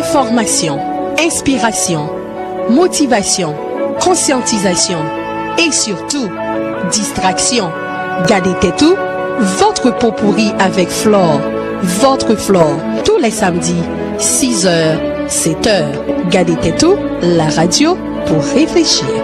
Enfòmasyon, enspirasyon, motivasyon, konsyantizasyon, e sitou, distraksyon, gade tèt ou, votre peau pourrie avec Flore, votre Flore, tou lè samdi, 6 zè, 7 è, gade tèt ou, la radyo pou reflechi.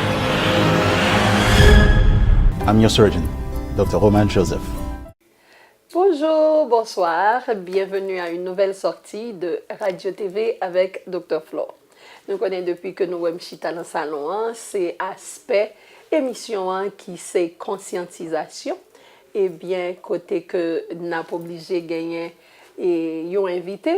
I'm your surgeon, Doctor Román Joseph. Bonjour, bonsoir, bienvenue à une nouvelle sortie de Radio TV avec Docteur Flo. Nou konnen depi ke nou wèm chita nan salon an, se aspè emisyon an ki se konsyantizasyon, ebyen kote ke nap oblije genyen yon envite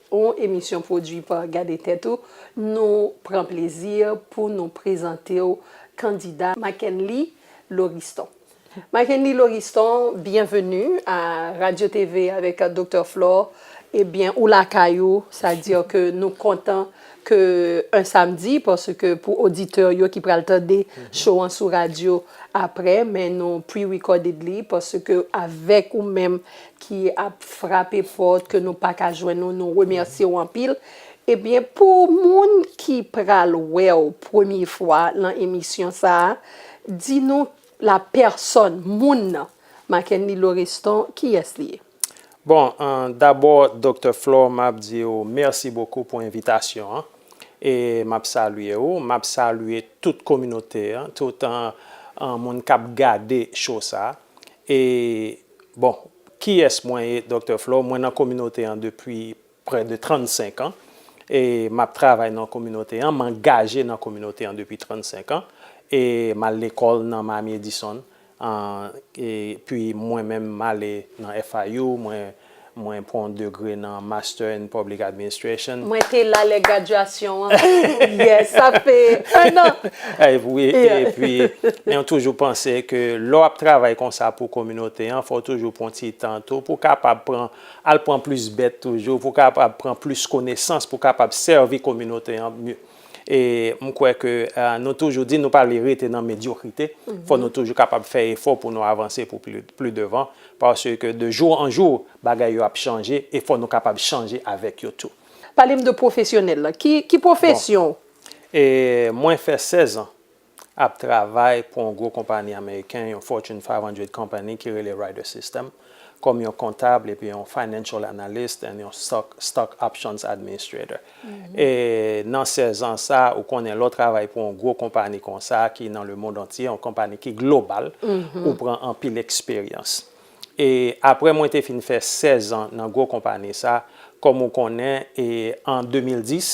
Yon emisyon pwodui pa Gade Tèt Ou, nou pran plezi pou nou prezante w kandida Mackenly Loriston. Mackenly Loriston, byenveni a Radio TV avèk Doktè Flore, ebyen ou lakay ou, sa di ke nou kontan ke 1 samdi, paske pou oditè yo ki pral tande show an sou radyo aprè, men nou pre-recorded li, paske avèk ou menm ki ap frape pòt ke nou paka jwenn ou nou remèsye ou anpil ebyen pou moun ki pral wèw premye fwa nan emisyon sa di nou la pèsòn moun nan Mackenly Loreston kiyès li ye? Bon dabò Doktè Flore map di ou mèsi bokou pou envitasyon an e map salye ou map salye tout kominote an tout moun kap gade show sa e Bon, kiyès mwen ye, Doktè Flo? Mwen nan kominote an depi prè de 35 an e m ap travay nan kominote an, m angaje nan kominote an depi 35 an e m al lekòl nan Miami Edison an e pi mwen menm m ale nan FIU, mwen Mwen pran degre nan Master in Public Administration. Mwen te la lè gradyasyon an. Yes, sa fe 1 an! Wi, epi men ou toujou panse ke lè w ap travay konsa pou kominote an, fò w toujou pran ti tan tou pou w kapab pran, al pran plis bèt toujou, pou w kapab pran plis konesans, pou w kapab sèvi kominote an E m kwè ke nou toujou di nou pa vle rete nan medyokrite, fò nou toujou kapab fè efò pou nou avanse pou pli devan, paske de jou an jou bagay yo ap chanje e fò nou kapab chanje avèk yo tou. Pale m de pwofesyonèl la, ki pwofesyon w? Mwen fè 16 an ap travay pou yon gwo konpani ameriken, yon Fortune 500 company ki rele Ryder System, kòm yon kontab epi yon financial analyst and yon stock options administrator. E nan 16 ans sa, ou konnen lè w travay pou yon gwo konpani konsa ki nan le mond antye, yon konpani ki global, ou pran anpil eksperyans. E aprè mwen te fin fè 16 ans nan gwo konpani sa, kòm ou konnen, e an 2010,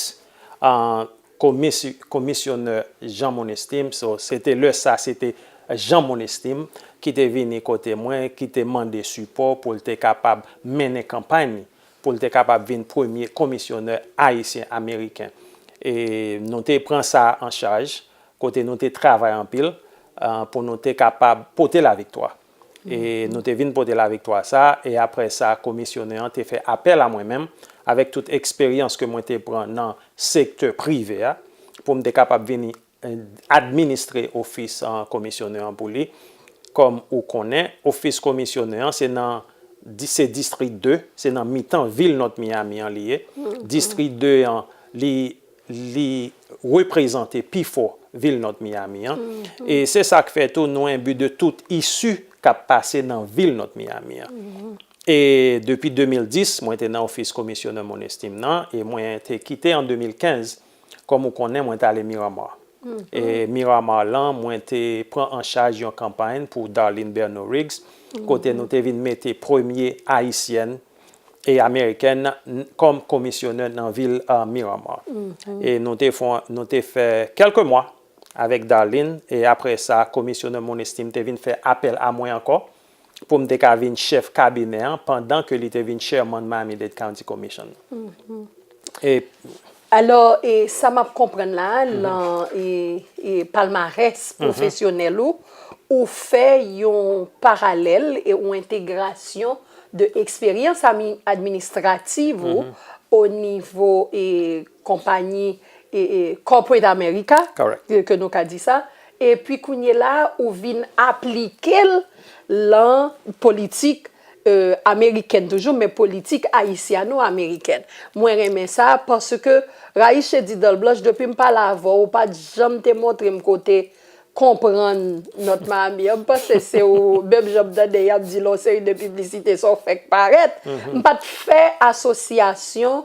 Komisyonè Jean Monestime, so se te lè sa se te Jean Monestime ki te vini kote mwen ki te mande sipò pou l te kapab mennen kanpay ni, pou l te kapab vin premye komisyonè ayisyen ameriken. E nou te pran sa an chaj, kote nou te travay anpil pou nou te kapab pote laviktwa. e nou te vin pote laviktwa sa a, e apre sa komisyonè an te fè apèl a mwen menm, avèk tout eksperyans ke mwen te pran nan sektè prive a, pou m te kapab vini administre ofis komisyonè an pou li, kòm ou konnen, ofis komisyonè an se nan, se distri 2, se nan mitan vil Nòt Miyami an li ye, distri 2 an li. Li reprezante pi fò vil North Miami an, e se sa k fè tou nou enbi de tout isu k ap pase nan vil North Miami an. E depi 2010, mwen te nan ofis Komisyonè Moun Estim nan, e mwen te kite an 2015, kòm ou konnen mwen t ale Miramar. E Miramar lan, mwen te pran an chaj yon kanpay pou Darline Berno Riggs, kote nou te vin mete premye Ayisyèn e amerikèn kòm komisyonè nan vil Miramar. E nou te fon, nou te fè kèlke mwa avèk Darline e apre sa komisyonè Monestime te vin fè apèl a mwen ankò pou m te ka vin chèf kabinè an pandan ke li te vin Chairman Miami-Dade County Commission. E. Alò, e sa m ap konprann la a, nan e palmarès pwofesyonèl ou, ou fè yon paralèl e yon entegrasyon de eksperyans administrativ ou o nivo e konpayi e Corporate America, ke nou ka di sa, epi kounyela a ou vin aplike l lan politik Amerikèn toujou men politik ayisyano amerikèn mwen renmen sa paske Raïche di dan blanch depi m pale avèw ou pat janm te montre m kote konprann nòt Maami an m panse se ou menm jan m tande yap di lò seri de piblisite sa ou fèk parèt m pat fè asosyasyon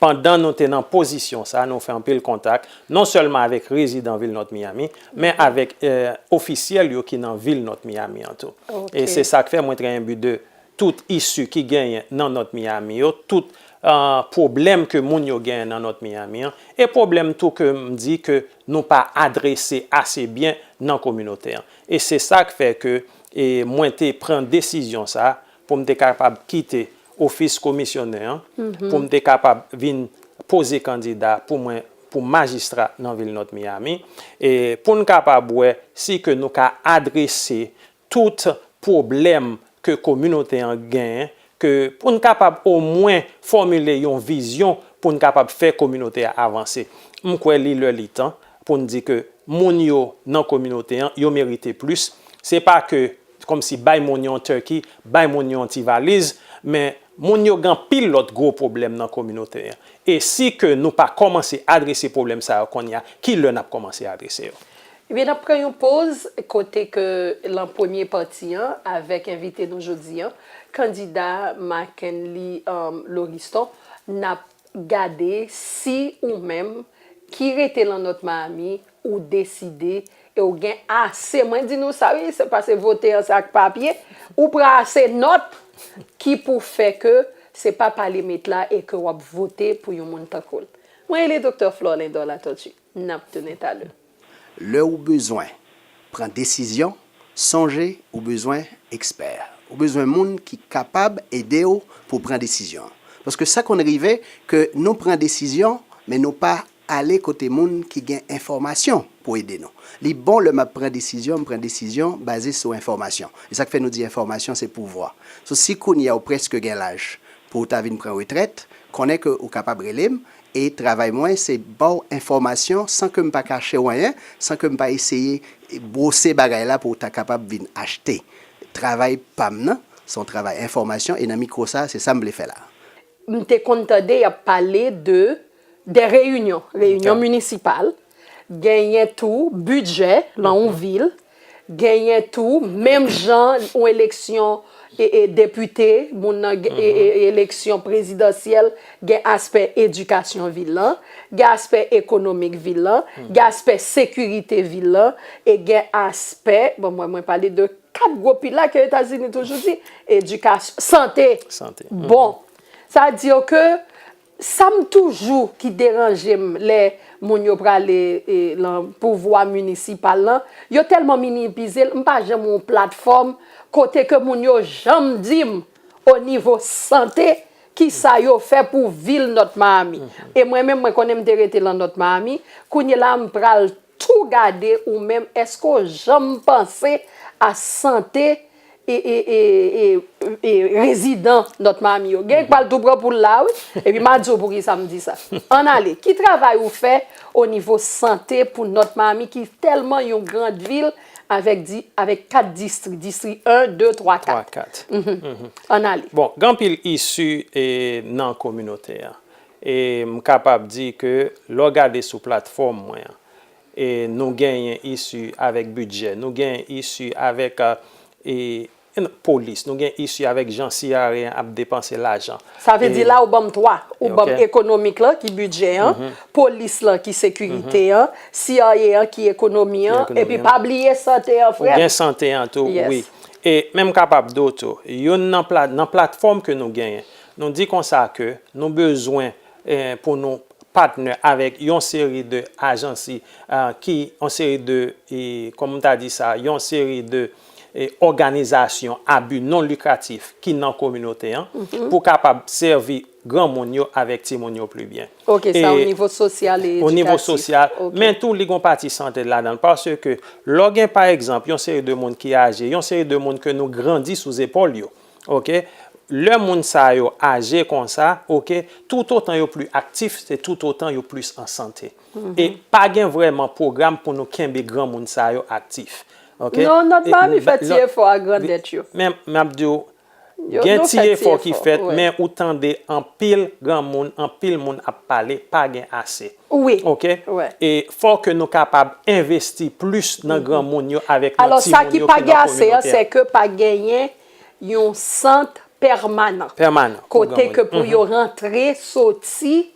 Pandan nou te nan pozisyon sa, nou fè anpil kontak, non sèlman avèk rezidan vil North Miami, men avèk ofisyèl yo ki nan vil North Miami an tou. E se sa k fè mwen trè enbi de tout isu ki genyen nan North Miami yo, tout pwoblèm ke moun yo genyen nan North Miami an, e pwoblèm tou ke m di ke nou pa adrese ase byen nan kominote an. E se sa k fè ke mwen te pran desizyon sa pou m te kapab kite ofis komisyonè an, pou m te kapab vin poze kandida pou mwen pou majistra nan vil Nòt Miyami, e pou n kapab wè si ke nou ka adrese tout pwoblèm ke kominote an gen, ke pou n kapab omwen fòmile yon vizyon pou n kapab fè kominote a avanse. M kwè li lè li tan pou n di ke moun yo nan kominote an, yo merite plis. Se pa ke. Kòmsi bay moun yon turkey, bay moun yon ti valiz, men moun yo gen anpil lòt gwo pwoblèm nan kominote an. E si ke nou pa kòmanse adrese pwoblèm sa yo kounye a, ki lè n ap kòmanse adrese yo? Ebyen n ap pran yon poz kote ke lan premye pati an avèk envite nou jodi an, kandida Marckenly Loriston, n ap gade si ou menm ki rete lan Nòt Mayami ou deside e ou gen ase, mwen di nou sa wi, se pa se vote an se ak papye, ou pran ase nòt ki pou fè ke se pa pale met la e ke w ap vote pou yon moun tankou l. Mwen rele Doktè Flore Lindor Latortue. N ap tounen talè. Lè ou bezwen pran desizyon, sonje ou bezwen ekspè. Ou bezwen moun ki kapab ede ou pou w pran desizyon. Paske sa konn rive ke nou pran desizyon men nou pa. Ale kote moun ki gen enfòmasyon pou ede nou. Li bon lè m ap pran desizyon, m pran desizyon baze sou enfòmasyon. E sa k fè nou di enfòmasyon se pouvwa. So si kounye a ou prèske gen laj pou ou ta vin pran retrèt, konnen ke ou kapab rele m e travay mwen se ba w enfòmasyon san ke m pa kache w anyen, san ke m pa eseye bwose bagay la pou w ta kapab vin achte. Travay pa m nan se yon travay enfòmasyon e nan mikwo sa a se sa m vle fè la a. M te konn tande y ap pale de dè reyinyon, reyinyon minisipal, genyen tou bidjè lan yon vil, genyen tou menm jan yon eleksyon depite, moun nan eleksyon prezidansyèl, gen aspè edikasyon vil lan, gen aspè ekonomik vil lan, gen aspè sekirite vil lan e gen aspè, bon mwen pale de. Kat gwo pila ke Etazini toujou di, edikasyon, sante, bon. Sa di yo ke, sa m toujou ki deranje m lè moun yo prale lan pouvwa minisipal lan, yo tèlman minipize l, m pa janm wè yon platfòm kote ke moun yo janm di m o nivo sante ki sa yo fè pou vil Nòt Mayami. E mwen menm mwen konnen m te rete lan Nòt Mayami, kounyela m pral Tou gade ou menm eske w janm panse a sante rezidan Nòt Mami yo. Gen k pral tou pran poul la wi. Epi ma di w poukisa m di sa. Ann ale. Ki travay ou fè o nivo sante pou Nòt Mami ki tèlman yon grand vil avèk 4 distri. Distri 1, 2, 3, 4. Ann ale. Bon, gen anpil isi nan kominote an. E m kapab di ke lè w gade sou platfòm mwen an, e nou genyen isi avèk bidjè, nou genyen isi avèk polis, nou genyen isi avèk jan CRA an ap depanse lajan. Sa vle di la ou ban m 3. Ou ban m ekonomik lan ki bidjè an, polis lan ki sekirite an, CRA an ki ekonomi an, epi pa bliye sante an frè m. Ou gen sante an tou wi. E men m kapab di w tou, youn nan platfòm ke nou genyen, Nou di konsa ke nou bezwen pou nou patnè avèk yon seri de ajansi ki, yon seri de, kòman m ta di sa, yon seri de òganizasyon a bi non likratif ki nan kominote an pou kapab sèvi granmoun yo avèk timoun yo pli byen. Ok, sa o nivo sosyal e edikatif. O nivo sosyal, men tou li gon pati sante ladan l. Paske lò gen pa egzanp yon seri de moun ki aje, yon seri de moun ke nou grandi sou zepòl yo. ok lè moun sa yo aje konsa ok toutotan yo pli aktif se toutotan yo plis an sante e pa gen vrèman pwogram pou nou kenbe granmoun sa yo aktif ok non nòt manmi fè ti efò a grandèt yo men map diw gen ti efò ki fèt men ou tande anpil granmoun anpil moun ap pale pa gen ase Wi, wi. E fò ke nou kapab envesti plis nan granmoun yo avèk nan timoun yo ki nan kominote a. Alò, sa ki pa gen ase an, se ke pa genyen yon sant pèmanan. Pèmanan. Kote ke pou yo rantre, soti,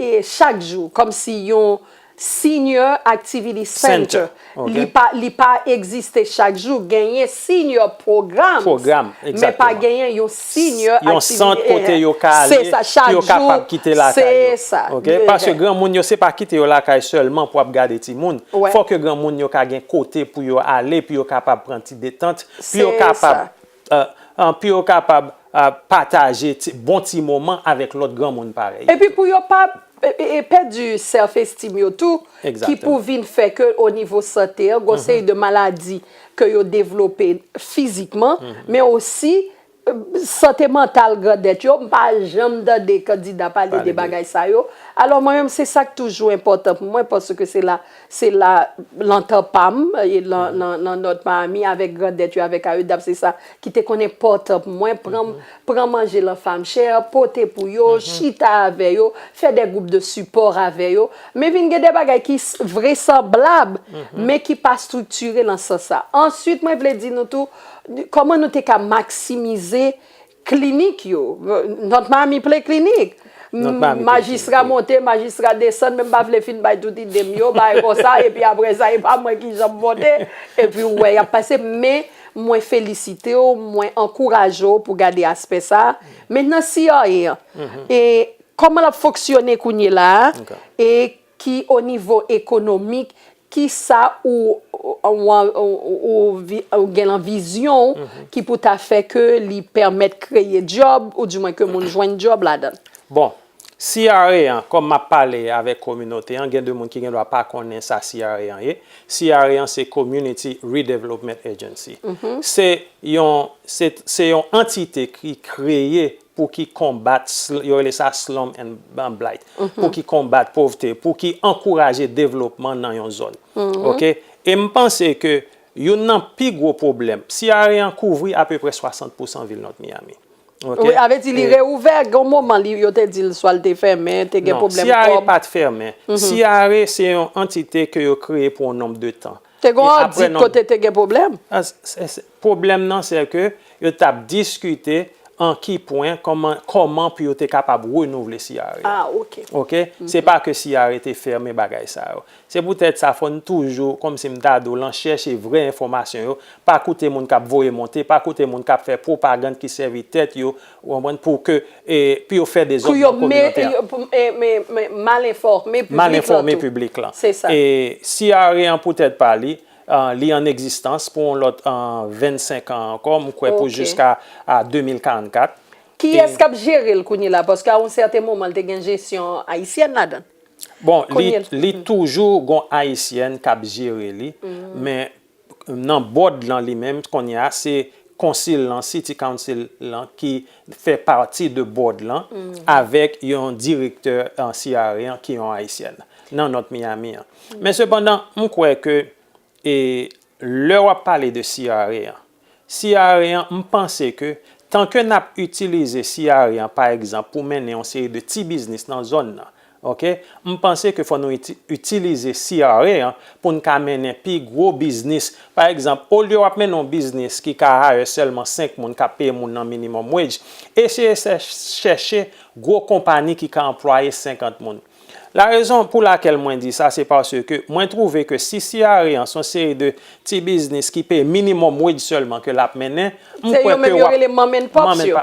e chak jou. Kòm si yon senior activity center. Li pa li pa egziste chak jou. Genyen senior programs. Pwogram, egzakteman. Men pa genyen yon senior aktivite. Yon sant kote yo ka ale. Se sa, chak jou. Pou yo kapab kite lakay yo. Se sa. Ok? Paske granmoun yo se pa kite yo lakay sèlman pou ap gade timoun. Wè. Fòk yo granmoun yo ka gen kote pou yo ale, pou yo kapab pran ti detant. Se sa. Pou yo kapab. Pi yo kapab pataje bon ti moman avèk lòt granmoun parèy yo tou. Epi pou yo pa pèdi self esteem yo tou, ki pou vin fè ke o nivo sante an, gon seri de maladi ke yo devlope fizikman, men osi sante mantal grandèt yo, m pa janm tande kandida pale de bagay sa yo, alò mwen menm se sa k toujou enpòtan pou mwen, paske se la. Se la, lan tan pa m, e lan, lan, lan nòt pa ami, avèk grandèt yo, avèk ayodap, se sa, ki te konnen pòt an pou mwen, pran, pran manje lan famchè, pote pou yo, chita avè yo, fè dè gwoup de sipò avè yo. Men vin gen dè bagay ki s, vresanblab, men ki pa striktire lan sans sa. Ansuit mwen vle di nou tou, kòman nou te ka maksimize Klinik yo. Not Miami ple klinik. Majistra monte, majistra desann, men m pa vle fin bay tout ide m yo, bagay konsa, epi apre sa e pa mwen ki jan m vote, epi ou wè y ap pase. Men, mwen felisite w, mwen ankouraje w pou gade aspè sa a. Mentnan CRA an, kòman l ap fonksyone kounyela a? E. Ki o nivo ekonomik, ki sa ou gen lan vizyon ou ki pou ta fè ke li pèmèt kreye djòb ou di mwen ke moun jwenn djòb ladan? Bon, CRA an, kòm m ap pale avèk kominote an, gen de moun ki gen dwa pa konnen sa CRA an ye. CRA an se Community Redevelopment Agency. Se yon antite ki kreye pou ki konbat, yo rele sa slum and blight, pou ki konbat povte, pou ki ankouraje devlopman nan yon zòn. Ok? E m panse ke youn nan pi gwo pwoblèm, CRA an kouvri apeprè 60 pousan vil North Miami. Ok? Wi, sa vle di li reouvè, gen yon moman li, yo te di l swa l te fèmen, te gen pwoblèm kòb. Non, CRA pa t fèmen. CRA se yon antite ke yo kreye pou yon nonb de tan. Te gen yon adit kote te gen pwoblèm? Pwoblèm nan sè ke yo t ap diskite an ki pwen kòman pou yo te kapab renouvle CRE a. Ok? Se pa ke CRE te fèmen bagay sa yo. Se poutèt sa fò n toujou, kòm si m ta di w lan, chèche vrè enfòmasyon yo, pa koute moun k ap voye monte, pa koute moun k ap fè pwopagand ki sèvi tèt yo Ou konprann? Pou ke, pou yo fè dezòd nan kominotè a. Pou yo mal enfòme piblik la tou. Mal enfòme piblik la. Se sa. E CRE an pou tèt pa li, li an egzistans pou yon lòt 25 an ankò, m kwè pou jiska 2044. Kiyès k ap jere l kounye la? Paske a yon sèten moman l te gen jesyon ayisyèn ladan l. Bon, li toujou gon ayisyèn k ap jere li, men nan bòd lan li menm kounye a se konsil lan city council lan ki fè pati de bòd lan avèk yon direktè CRA an ki yon ayisyèn nan nòt Miami an men sepandan m kwè ke e lè wap pale de CRA an Siareyan m panse ke tan ke nap itilize siareyan pa egzanp pou mennen yon seri de ti biznis nan zòn nan ok m panse ke fò nou itilize siareyan pou n ka mennen pi gwo biznis pa egzanp olye wap mennen yon biznis ki ka hire sèlman 5 moun kap peye moun nan minimum wage eseye chèche gwo konpani ki ka anplwaye 50 moun La rezon pou lakel mwen di sa se paske mwen trouve ke si Ciare an son seri de ti biznis ki peye minimum wage selman ke lap mennen, m kwè ke wap, mom and pops yo,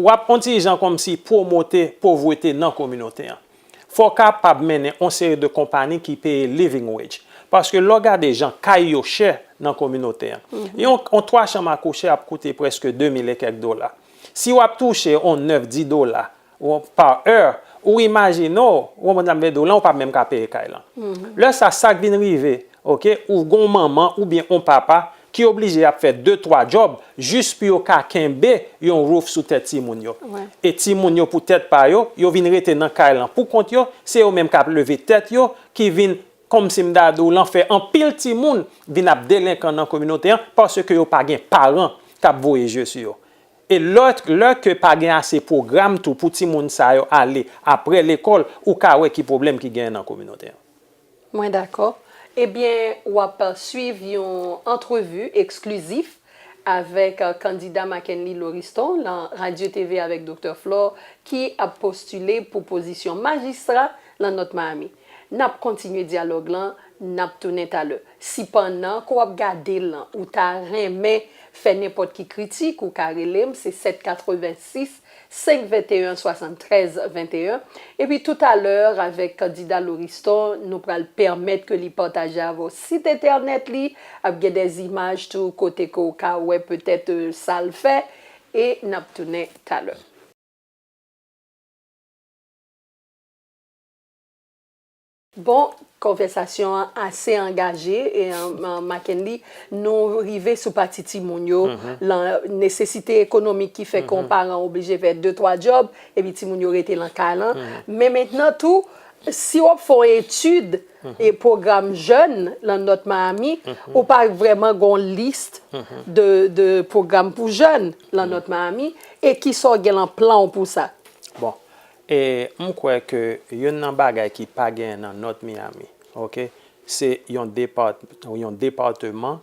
wap on ti jan komsi promote povrete nan kominote an. Fò w kapab mennen on seri de konpani ki peye living wage. Paske lè w gade jan kay yo chè nan kominote an. Yon on 3 chanm a kouche ap koute preske 2000 e kek dola. Si wap touche on 9, 10 dola Ou par heure, ou imajine w, ou konprann sa m vle di w lan, ou pa menm ka peye kay lan. Lè sa, sa k vin rive, ok, ou gen yon manman oubyen yon papa ki oblije y ap fè de twa djòb jis pou yo ka kenbe yon roof sou tèt timoun yo. E timoun yo pou tèt pa yo, yo vin rete nan kay lan pou kont yo, se yo menm k ap leve tèt yo, ki vin, kòm si m ta di w lan, fè anpil timoun vin ap delenkan nan kominote an paske yo pa gen paran k ap voye je sou yo. E lè lè ke pa gen ase pwogram tou pou timoun sa yo ale apre lekòl, ou ka wè ki pwoblèm ki genyen nan kominote an. Mwen dakò. Ebyen, w ap swiv yon antrevi eksklizif avèk kandida Mackenly Loriston lan Radyo TV avèk Doktè Flore ki ap postile pou pozisyon majistra lan Nòt Miami. Nap kontinye dyalòg lan nap tounen talè. Si pannan ke w ap gade l lan ou ta renmen fè nenpòt ki kritik ou ka rele m se 786 521 73 21 epi tou talè avèk kandida Loriston nou pral pèmèt ke li pataje avè w sit entènèt li ap gen des imaj tou kote ke w ka wè petèt sa l fè e nap tounen talè. Bon, konvèsasyon an ase angaje, Mackenly. Nou rive sou pati timoun yo, lan nesesite ekonomik ki fè ke yon paran oblije fè de twa djòb, epi timoun yo rete lan kay lan. Men mentnan tou, si w ap fè yon etid e pwogram jèn lan Nòt Miami, ou pa vrèman gen yon lis de pwogram pou jèn lan Nòt Miami, e kisa w gen lan plan w pou sa? Bon, E m kwè ke youn nan bagay ki pa genyen nan North Miami, ok, se yon depart, yon departeman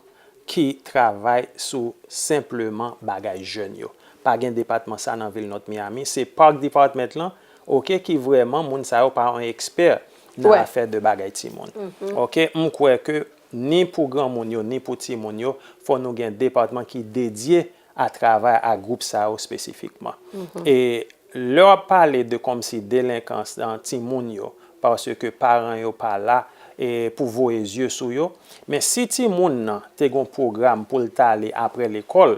ki travay sou senpleman bagay jèn yo. Pa gen depatman sa nan vil North Miami. Se Park Department lan, ok, ki vrèman moun sa yo pa yon ekspè nan afè de bagay timoun. Ok, m kwè ke ni pou granmoun yo, ni pou timoun yo, fò nou gen depatman ki dedye a travay ak gwoup sa yo spesifikman. E lè w ap pale de kòmsi delenkans nan timoun yo paske paran yo pa la e pou voye zye sou yo, men si timoun nan te gen yon pwogram pou l t ale aprè lekòl,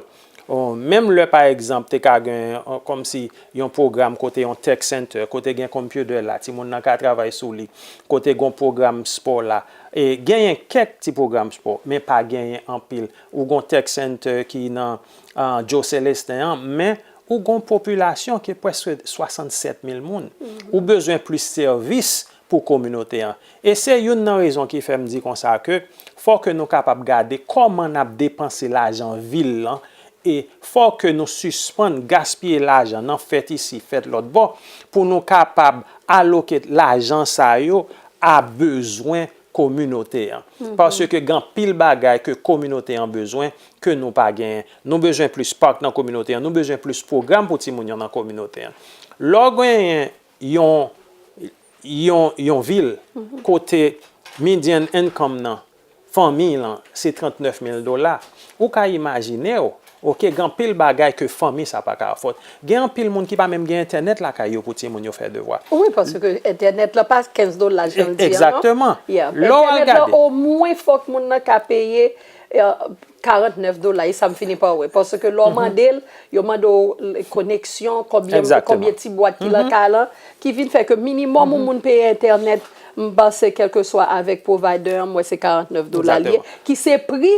menm lè pa egzanp te ka gen kòmsi yon pwogram kote yon tech center, kote gen computer la timoun nan ka travay sou li, kote gen yon pwogram spò la, e genyen kèk ti pwogram spò men pa genyen anpil. Ou gon tech center ki nan Joe Celestin an, men ou gon popilasyon ki preske 67 mil moun. Ou bezwen plis sèvis pou kominote an. E se youn nan rezon ki fè m di konsa ke fò ke nou kapab gade kòman n ap depanse lajan vil lan e fò ke nou sispann gaspiye lajan nan fèt isi, fèt lòtbò pou nou kapab aloke lajan sa yo a bezwen kominote an. Paske gen anpil bagay ke kominote an bezwen ke nou pa genyen. Nou bezwen plis park nan kominote an, nou bezwen plis pwogram pou timoun yo nan kominote an. Lè w genyen yon yon yon vil kote median income nan fanmiy lan se 39 mil dola, ou ka imajine w Ok gen anpil bagay ke fanmi sa pa ka afòd. Gen anpil moun ki pa menm gen entènèt lakay yo pou timoun yo fè devwa. Wi paske entènèt la pa 15 dola jan l di an non. Egzakteman. Lè w al gade. Entènèt la omwen fòk moun nan ka peye 49 dola e sa m fini pa wè. Paske lè w mande l, yo mande w koneksyon, konbyen ti bwat ki lan kay lan. Ki vin fè ke minimòm yon moun peye entènèt m panse kèlkeswa avèk provider an m wè se 49 dola li ye. Ki se pri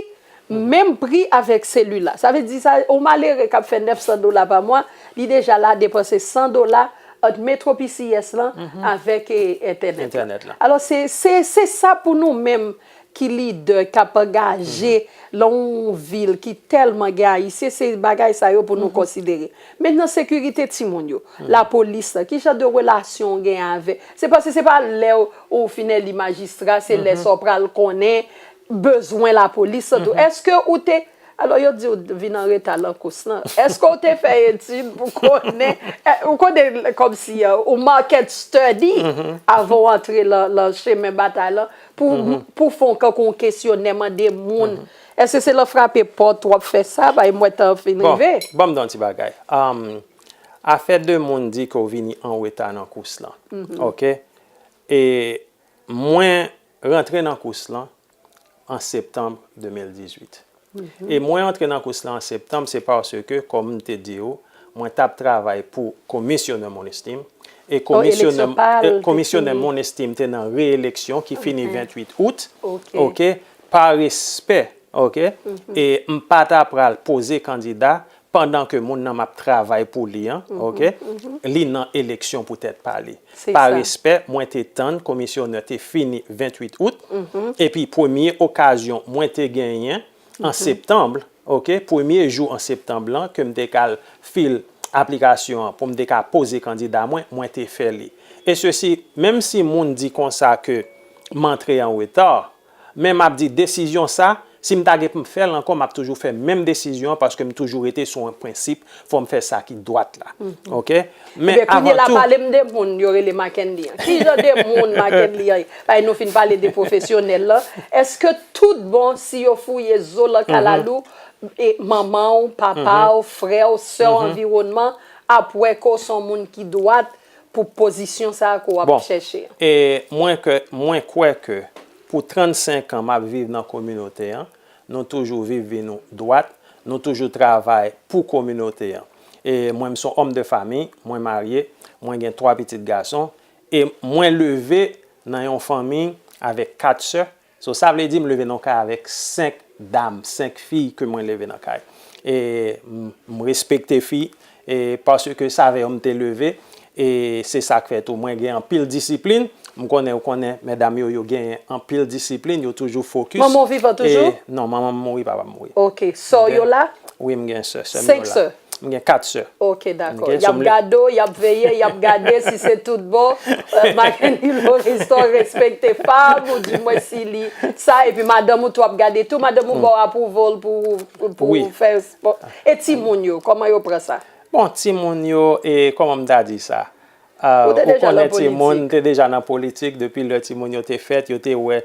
Menm pri avèk selila. Sa vle di sa yon malere k ap fè 900 dola pa mwa, li deja la depanse 100 dola ant metro PCS lan avèk entènèt la. Alò se se sa pou nou menm ki lidè k ap angaje lan yon vil ki tèlman gen ayisyen, se bagay sa yo pou nou konsidere. Mentnan sekirite timoun yo, lapolis lan, ki jan de relasyon ou gen avè, se paske se pa lè ou fin eli majistra, se lè sa ou pral konnen. bezwen lapolis an tou. Eske ou te, alò yo di w vin an reta lan kous lan, eske w te fè etid pou konnen, ou konnen kòm si ou market study avan w antre lan chemen batay lan pou fon kankou yon kesyonè mande moun. Eske se lan frape pòt w ap fè sa, paske m wè tan an fin rive. Bon, banm di w yon ti bagay. Afè de moun di ke w vini an reta nan kous lan, ok, e mwen. rantre nan kous lan an septanm 2018 e mwen antre nan kous lan an septanm se paske kòm m te di ou mwen tap travay pou komisyonè Monestime e komisyonè Monestime te nan reeleksyon ki fini 28 out ok pa respè ok e m pa ta pral poze kandida pandan ke moun nan map travay pou li an ok li nan eleksyon pou tèt pa li pa respè mwen te tann komisyonè te fini 28 out epi premye okazyon mwen te genyen an septanb ok premye jou an septanb lan kem te kal fil aplikasyon an poum te ka poze kandida mwen mwen te fè li e sesi menm si moun di konsa ke m antre an reta Men map di desizyon sa, si m ta gen pou m fè l ankò map toujou fè menm desizyon an paske m toujou rete sou yon prensip fò m fè sa ki dwat la ok men Ebyen kounye la avantou pale m de moun yo rele Mackenly an ki jan de moun Mackenly an ye paske nou fin pale de pwofesyonèl lan èske tout bon si yo fouye zo lan kalalou e manman w papa w frè w sè w anviwònman ap wè ke w s on moun ki dwat Pou pozisyon sa a ke w ap chèche an. E mwen ke, mwen kwè ke pou 35 an m ap viv nan kominote an, nou toujou viv vi nou dwat, nou toujou travay pou kominote an. E mwen m son òm de fami, mwen marye, mwen gen 3 pitit gason, e mwen leve nan yon fanmi avèk 4 sè, So sa vle di m leve nan yon kay avèk 5 dam, 5 fi ke mwen leve nan kay. E m respekte fi e paske sa avè yo m te leve e se sa k fè tou mwen gen anpil disiplin. M konnen ou konnen medam yo, yo genyen anpil disiplin, yo toujou fokis. Manman w vivan toujou? Non, manman m mouri, papa m mouri. Ok. Sè w yo la? Wi m gen sè, sè m yo la. 5 sè? M gen 4 sè. Ok dako. Y ap gade w, y ap veye, y ap gade si se tout bon. Makendy Loriston respekte fanm ou di mwen si li sa epi madanm ou tou ap gade tou. Madanm ou ba w approval pou ou fè spò. E timoun yo, kòman yo pran sa? Bon timoun yo, kòman m ta di sa? Ou te deja nan politik? Ou konnen timoun, m te deja nan politik depi lè timoun yo te fèt, yo te wè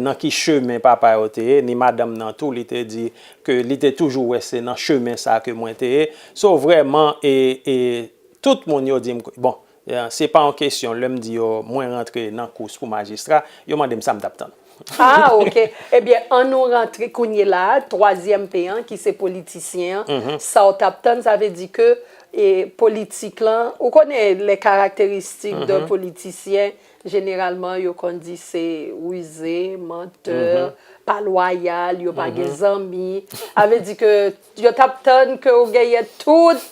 nan ki chemen papa yo te ye, ni madanm nan tou li te di ke li te toujou wè se nan chemen sa ke mwen te ye. So vrèman e tout moun yo di m, bon se pa yon kesyon lè m di yo mwen rantre nan kous pou majistra, yo mande m sa m t ap tann. Ah ok ebyen an nou rantre kounye la twazyèm p an ki se politisyen an sa w tap tann sa vle di ke e politik lan ou konnen lè karakteristik de politisyen jeneralman yo konn di se rize mantè pa lwayal yo pa gen zanmi a vle di ke Yo tap tann ke ou genyen tout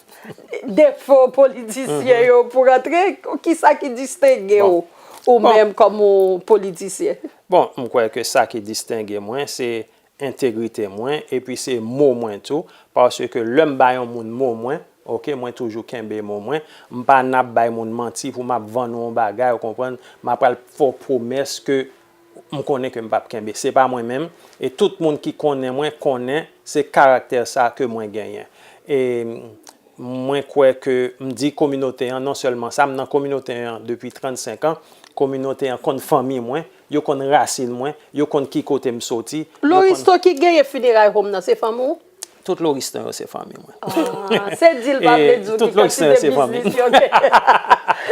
defo politisyen yo pou rantre. Kisa ki distenge ou ou menm kòm yon politisyen? Bon, m kwè ke sa ki distenge mwen se entegrite mwen epi se mo mwen tou. Paske lè m ba yon moun mo mwen, ok, mwen toujou kenbe mo mwen. M pa nan ap bay moun manti pou m ap vann ou yon bagay, ou konprann. M pa pral fè w pwomès ke M konnen ke m pap kenbe. Se pa mwen menm. E tout moun ki konnen mwen konnen se karaktè sa ke mwen genyen. E mwen kwè ke m di kominote an non sèlman sa. M nan kominote an depi 35 an. Kominote an konn fanmi mwen. Yo konn rasin mwen. Yo konn ki kote m soti. Loristo ki gaye funeray home nan se fanmi w? Tout loristan yo se fanmi mwen. Aah, se di l pa vle di w ki kantite biznis yo gen.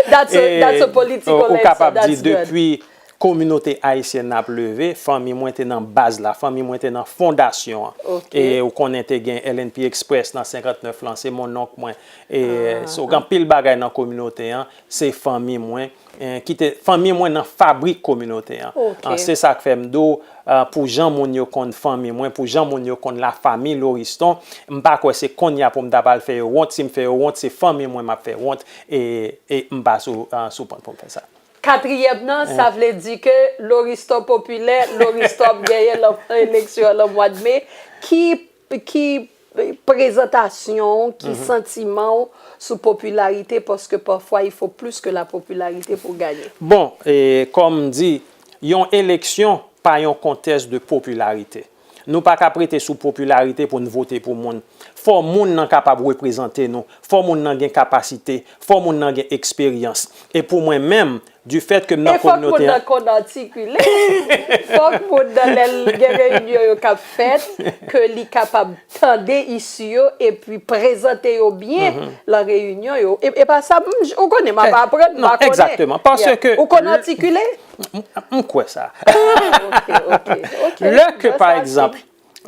That's a political answer. Ou kapab di depi kominote ayisyèn nan ap leve, fanmi mwen te nan baz la, fanmi mwen te nan fondasyon an. Ok. E ou konnen te gen LNP Express nan 59 lan, se monnonk mwen. Aah. E, so gen anpil bagay nan kominote an, se fanmi mwen. Kite fanmi mwen nan fabrik kominote an. Se sa k fè m di w, pou jan moun yo konn fanmi mwen, pou jan moun yo konn lafanmi Loriston, m pa kwè se konnya pou m ta pral fè yo wont. Si m fè yo wont, se fanmi mwen m ap fè wont e m pa sou pant pou m fè sa. Katriyèm nan, sa vle di ke Loriston popilè, Loriston ap genyen nan eleksyon an nan mwad me. Ki Ki prezantasyon w, ki santiman w sou popilarite paske pafwa il fo plis ke la popilarite pou w gaye? Bon, kòm m di, yon eleksyon pa yon kontès de popilarite. Nou pa kap rete sou popilarite pou n vote pou moun. Fò moun nan kapab reprezante nou, fò moun nan gen kapasite, fò moun nan gen eksperyans. E pou mwen menm, Du fait ke m nan kominote an. E fòk moun nan konn atikile. Fòk moun nan lè l gen reyinyon yo k ap fèt, ke li kapab tande isu yo epi prezante yo byen lan reyinyon yo. E pa sa, ou konnen m ap aprann, m pa konnen. Egzakteman. Pase ke. Ou konn atikile? M kwè sa. Ah, ok, ok. Lè ke pa egzanp,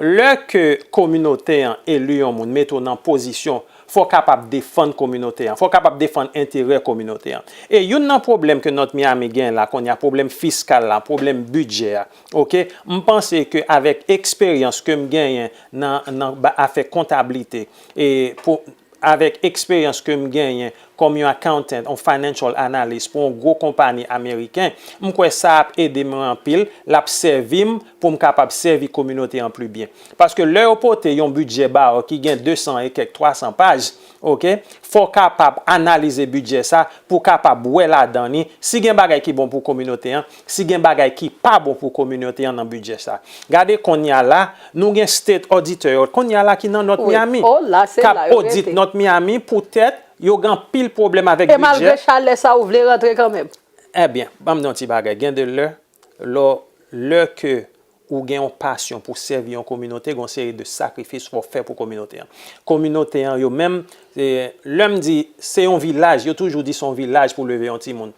Lè ke kominote an eli yon moun mete w nan pozisyon fò w kapab defann kominote an, fò w kapab defann enterè kominote an. E youn nan pwoblèm ke North Miami gen la kounye a, pwoblèm fiskal la, pwoblèm bidjè a, ok, m panse ke avèk eksperyans ke m genyen nan nan afè kontablite e pou Avèk eksperyans ke m genyen kòm yon accountant, yon financial analyst pou yon gwo konpani ameriken, m kwè sa ap ede mwen anpil, l ap sèvi m pou m kapab sèvi kominote an pli byen. Paske lè yo pote yon bidjè ba w ki gen 200 e kèk 300 paj, ok, fò w kapab analize bidjè sa pou w kapab wè ladan li si gen bagay ki bon pou kominote an, Si gen bagay ki pa bon pou kominote an nan bidjè sa. Gade konnya la nou gen state auditor yo konnya la ki nan North Miami kap audit North Miami poutèt yo gen anpil pwoblèm avèk bidjè. E malgre chalè sa ou vle rantre kanmenm? Ebyen, banm di yon ti bagay gen de lè lò lè ke Ou gen yon pasyon pou sèvi yon kominote, gen yon seri de sakrifis fò w fè pou kominote an. Kominote an yo menm, lè m di se yon vilaj, yo toujou di se yon vilaj pou leve yon timoun.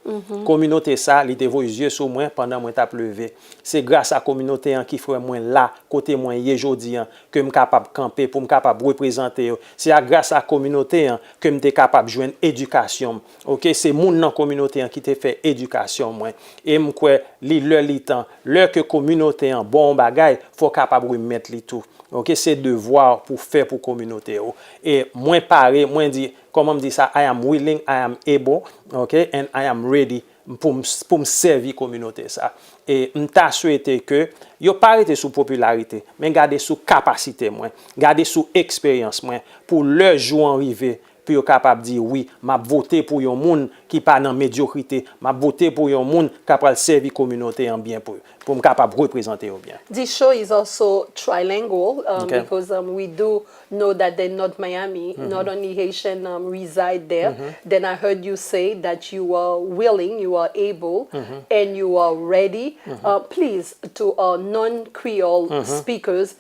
Kominote sa, li te voye zye sou mwen pandan mwen t ap leve. Se gras a kominote an ki fè mwen la kote mwen ye jodi an, ke m kapab kanpe, pou m kapab reprezante yo. Se a gras a kominote an ke m te kapab jwenn edikasyon m. Ok se moun nan kominote an ki te fè edikasyon mwen e m kwè li lè li tan lè ke kominote an ba w yon bagay fò w kapab remèt li tou ok se devwa w pou w fè pou kominote w e mwen pare mwen di kòman m di sa I am willing I am able ok and I am ready pou m pou m sèvi kominote sa e m ta swete ke yo pa rete sou popilarite men gade sou kapasite mwen gade sou eksperyans mwen pou lè jou an rive pou yo kapab di wi map vote pou yon moun ki pa nan medyokrite map vote pou yon moun ka pral sèvi kominote an byen pou poum kapab reprezante yo byen. This show is also trilingual because um we do know that the North Miami not only Haitian um reside there then I heard you say that you are willing, you are able and you are ready um please to our non Creole speakers